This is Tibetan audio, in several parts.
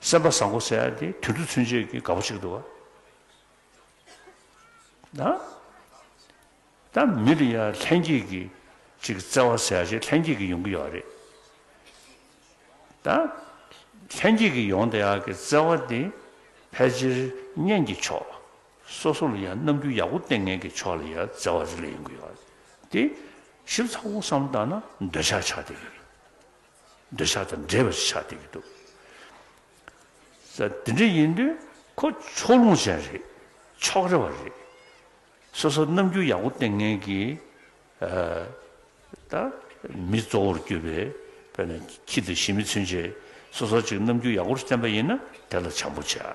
སེམས་པ་བཟང་པོ་ཟེར་ཡ་དེ་དུད་འགྲོ་ཚུན་ཆད་ཀྱི་དགའ་པོ་ཞིག་འདུག་ཨ། ད་མི་དེ་ཡང་ལྷན་སྐྱེས་ཀྱི་ཅིག་བརྩེ་བ་ཟེར་ཡ་ཞིག་ལྷན་སྐྱེས་ཀྱི་ཡོང་གི་ཡོད་རེད། ད་ལྷན་སྐྱེས་ཀྱི་ཡོང་དེ་ཡ་གི་བརྩེ་བ་དེ་ཕལ་ཆེར་གཉེན་གྱི་ཕྱོགས་སོ་སོ་ལ་ཡང་རྣམ་འགྱུར་ཡག་པོ་བསྟན་མཁན་གྱི་ཕྱོགས་ལ་ཡང་བརྩེ་བ་རེ་ལ་ཡོང་གི་ཡོད་རེད། དེ་ཞིབ་ཚགས་པོ་བསམ་བཏང་ན་འདོད་ཆགས་ཆགས་དེ་རེད། འདོད་ཆགས་དང་འདྲེས་པ་ཆགས་བསྡད་ཀྱི་འདུག་གསལ། དེ་འདྲ་ཡིན་དུས་ཁོ་ཕྱོགས་ལྷུང་ཅན་རེད། ཕྱོགས་རེ་བ་རེད། སོ་སོར་རྣམ་འགྱུར་ཡག་པོ་བསྟན་མཁན་གྱི་ད་མི་གཙོ་བོར་གྱུར་པའི་བོད་ནས་ཁྱི་དང་ཤི་མི་ཚུན་ཆད་སོ་སོར་ཅིག་རྣམ་འགྱུར་ཡག་པོར་བསྟན་པ་ཡིན་ན་དེ་ལ་བྱམས་པོ་བྱ།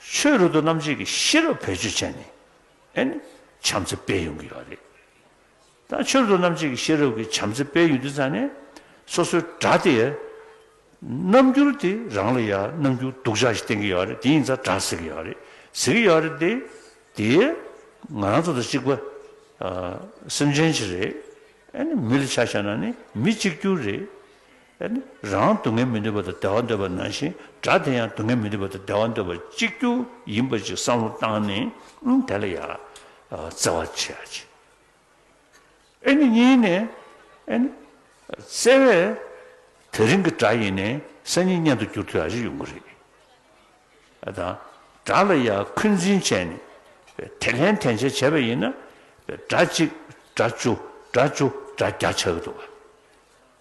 ཆོས་རུ་དུ་རྣམ་འབྱེད་ཀྱི་ཤེས་རབ་བེད་སྤྱོད་བྱས་ནས་བྱམས་བརྩེ་སྤེལ་ཡོང་གི་ཡོད་རེད། ད་ཆོས་རུ་དུ་རྣམ་འབྱེད་ཀྱི་ཤེས་རབ་ཀྱི་བྱམས་བརྩེ་སྤེལ་ཡོད་དུས་ཙང་ནས་སོ་སོའི་དགྲ་དེ་ཡ་རྣམ་འགྱུར་དེ་རང་ལ་ཡ་རྣམ་འགྱུར་སྡུག་ཅག་ཞིག་བསྟན་གྱི་ཡོད་རེད་དེ་ཡིན་ཙང་དགྲ་ཟེར་གྱི་ཡོད་རེད་ཟེར་གྱི་ཡོད་རེད་དེ་དེ་ང་རང་ཚོ་དང་གཅིག་པ་སེམས་ཅན་ཞིག་རེད། མི་ལ་ཆ་བཞག་ན་ནི་མི་གཅིག་གྱུར་རེད། རང་སྡུག་བསྔལ་མི་འདོད་པ་དང་བདེ་བ་འདོད་པ་ནང་བཞིན་སྒྲ་དེ་ཡང་སྡུག་བསྔལ་མི་འདོད་པ་དང་བདེ་བ་འདོད་པ་གཅིག་གྱུར་ཡིན་པ་ཞིག་བསམ་བློ་བཏང་ནས་དེ་ལ་ཡར་བརྩེ་བ་ཆེ་ཡང་ཆེ། ཨེ་ནི་གཉིས་ནས་ཨེ་ནི། བརྩེ་བས་དེ་རིང་གི་སྒྲ་ཡིན་ནས་སང་ཉིན་བརྙན་དུ་འགྱུར་དུས་ཡག་ཞིག་ཡོང་གི་རེད། དང། སྒྲ་ལ་ཡར་འཁོན་འཛིན་བྱས་ནས་དེ་ལྷན་ཐེན་བྱེད་བྱས་པ་ཡིན་ན། སྒྲ་གཅིག་སྒྲ་བཅུ་སྒྲ་བཅུ་སྒྲ་བརྒྱ་ཆགས་ཀྱི་འདུག།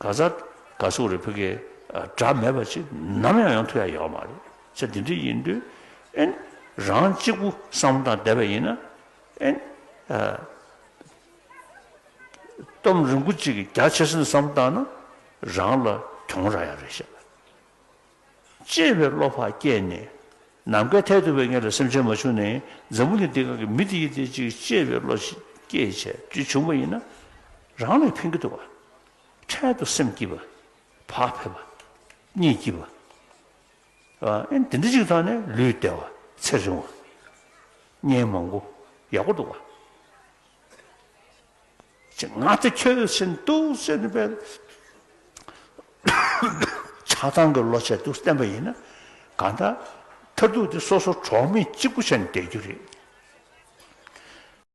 ག་ཚ་ག་ཚུགས་རེད་བོད་སྐད་སྒྲ་མེད་པ་ཅིག་ནམ་ཡང་ཡང་ཐུག་ཡ་ཡག་མ་རེད་ཚེ་འདི་འདྲ་ཡིན་དུས་ཨན། རང་གཅིག་པུ་བསམ་བློ་དང་བསྡད་པ་ཡིན་ན་ཨན། སྟོམ་རིང་པོ་ཅིག་གི་རྒྱ་ཆེ་སེམས་བསམ་བཏང་ན་རང་ལ་གྱོང་རག་ཡ་རེད་ཤག། ཅེས་པའི་བློ་བག་སྐྱེས་ནས། ནམ་མཁའི་མཐས་གཏུགས་པའི་ངེད་ལ་སེམས་ཅན་མ་བྱུང་ནས་འཛམ་བུ་གླིང་འདི་གང་གི་མི་དེ་ཡིད་བདེ་ཅིག་ཅེས་པའི་བློ་སྐྱེས་བྱས་རྗེས་བྱུང་བ་ཡིན་ན། རང་ལས་ཕན་གྱི་འདུག་བ། འཕྲལ་དུ་སེམས་སྐྱིད་པ། བག་ཕེབས་པ། གཉིད་སྐྱིད་པ། ཨེ་འདི་འདྲ་ཅིག་ཐོག་ནས་ལུས་བདེ་བ། ཚེ་རིང་བ། གཉེན་མང་པོ། ཡག་པོ་འདུག་བ། ཅེས་ང་ཚོས་ཆོས་བཞིན་དུ་ཟིན་པའི་བྱ་བཏང་གི་ལོ་ཆད་དུ་བསྟན་པ་ཡིན་ན། གང་ལྟར་མཐར་ཐུག་དེ་སོ་སོ་གྲོགས་མེད་གཅིག་པུ་བྱས་ནས་བསྡད་རྒྱུ་རེད།